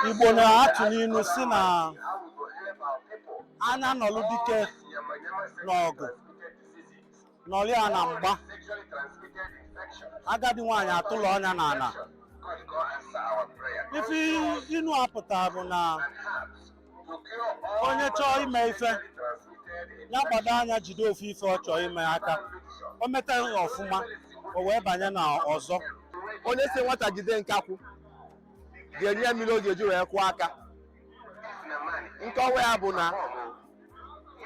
Igbo na-atụ n'ilu sị na anya nọlụ dike n'ọgụ nọlụ ya na mgba agadi nwaanyị atụlọ ọnya na ana ife inu a pụta bụ na onye chọọ ime ife ya gbado anya jide ofu ife ọ chọọ ime aka o meta ya ọfụma o wee banye na ọzọ onye sị nwata jide nkakwụ ga-enye mmiri ọ ga-eji wee kwụọ aka nkọwa ya bụ na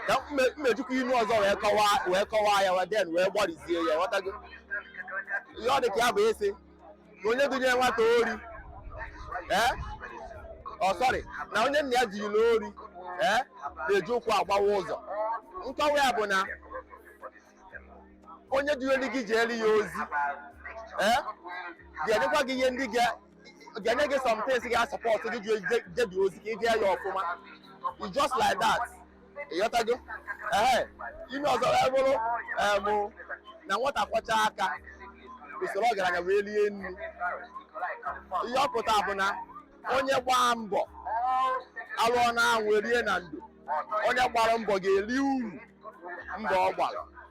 ka m jikwa inu ọzọ wee kọwaa wee kọwaa ya waden wee gbarizie ya ghọtago ihe ọ dị ka ya bụ a sị na onye dunye nwata ori ee oh sorry na onye nna ya dunyelu ori ee na-eji ụkwụ agbawa ụzọ nkọwa ya bụ na onye dunyelu gị jeelu ya ozi ee ga-enyekwa gị ihe ndị ga ga-enye gị somethings ga-support gị jebe ozi ka ị jee ya ọfụma just like that ị ghọtago ee inu ọzọ wee bụrụ em na nwata kwọcha aka o soro ọgaranya wee rie nri ihe ọ pụta bụ na onye gbaa mbọ a lụọ na anwụ e rie na ndo onye gbara mbọ ga-eri uru mbọ ọ gbara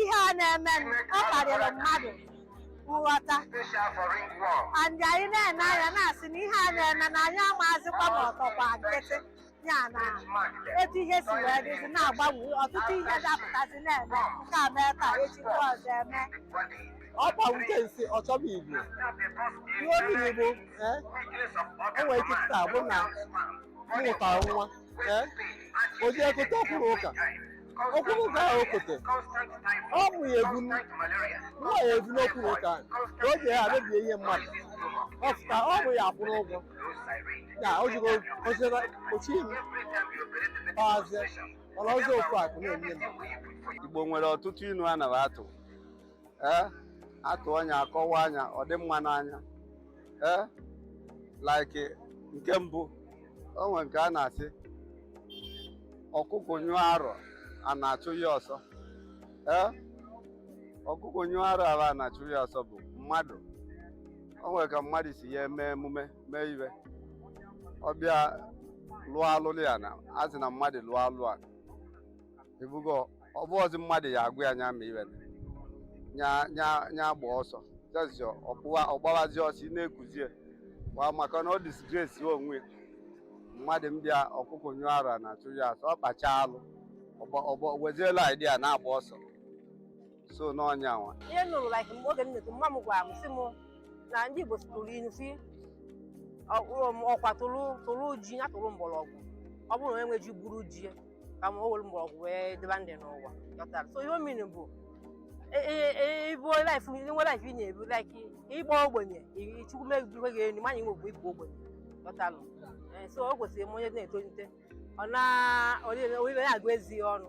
ihe a na-emenụ, ọ karịrị mmadụ nghọta and anyị na-ene anya na-asị na ihe a na-eme na anyị amaazịkwa ma ọ tọkwa nkịtị ya na etu ihe si wee dịzi na-agbanwe ọtụtụ ihe dapụtazi na-eme nke a mee taa echi nke ọzọ eme ọ kpawute nsị ọ chọba igbu ihe o miri bụ eh, o nwere ike taa bụ na m mụtara nwa eh? o ji ekote ọkwụrụ ụka ọkwụrụ ụka ahụ okote ọ bụ ya ebu nwa ya ebu n'ọkwụrụ ụka ahụ ka o ji ya mebie ihe mmadụ ọ pụta ọ bụ ya akwụrụ ụgwọ ya o jigo ozere ochi ilu ọhazie ọla ọzọ ofu akụ na-enye m igbo nwere ọtụtụ inu a na-atụ ee a tụọ nya a kọwaa nya ọ dị mma n'anya ee like nke mbụ o nwere nke a na-asị ọkụkọ nyụọ arụ ana achụ ya ọsọ ee ọkụkọ nyụọ arụ ahụ ana achụ ya ọsọ bụ mmadụ o nwere ka mmadụ si ya eme emume mee iwe ọ bịa lụọ alụlụ ana a sị na mmadụ lụọ alụ a ebugo ọ bụzi mmadụ ya agwa ya nya ma iwe nya nya nya gba ọsọ just your ọpụwa ọgbawazi ọsọ ị na-ekuzie wa maka na ọ disgrace ya onwe ya. mmadụ mbịa ọkụkọ nyụọ arụ ana achụ ya ọsọ ọ kpacha alụ ọgba- ọgba- weziela idea na-agba ọsọ so n'ọnya nwa ihe m nụrụ like mgbe oge m na-eto mama m gwara m sị m na ndị Igbo tụrụ ilu sị ọkwa tụrụ tụrụ ji ya tụrụ mgbọrọgwụ ọ bụrụ na onye nwe ji gwuru ji ya ka ma o were mgbọrọgwụ wee dịba ndụ n'ụwa ghọtara so ihe ọ mean bụ ibi life nwe life ị na-ebi like ị bụ ogbenye i- Chukwu mebiwe gị enyi manya inwekwu ịbụ ogbenye ghọtalụ Eh, so o kwesịrị m onye na-etolite ọ na olile olile na-agụ ezi ya ọnụ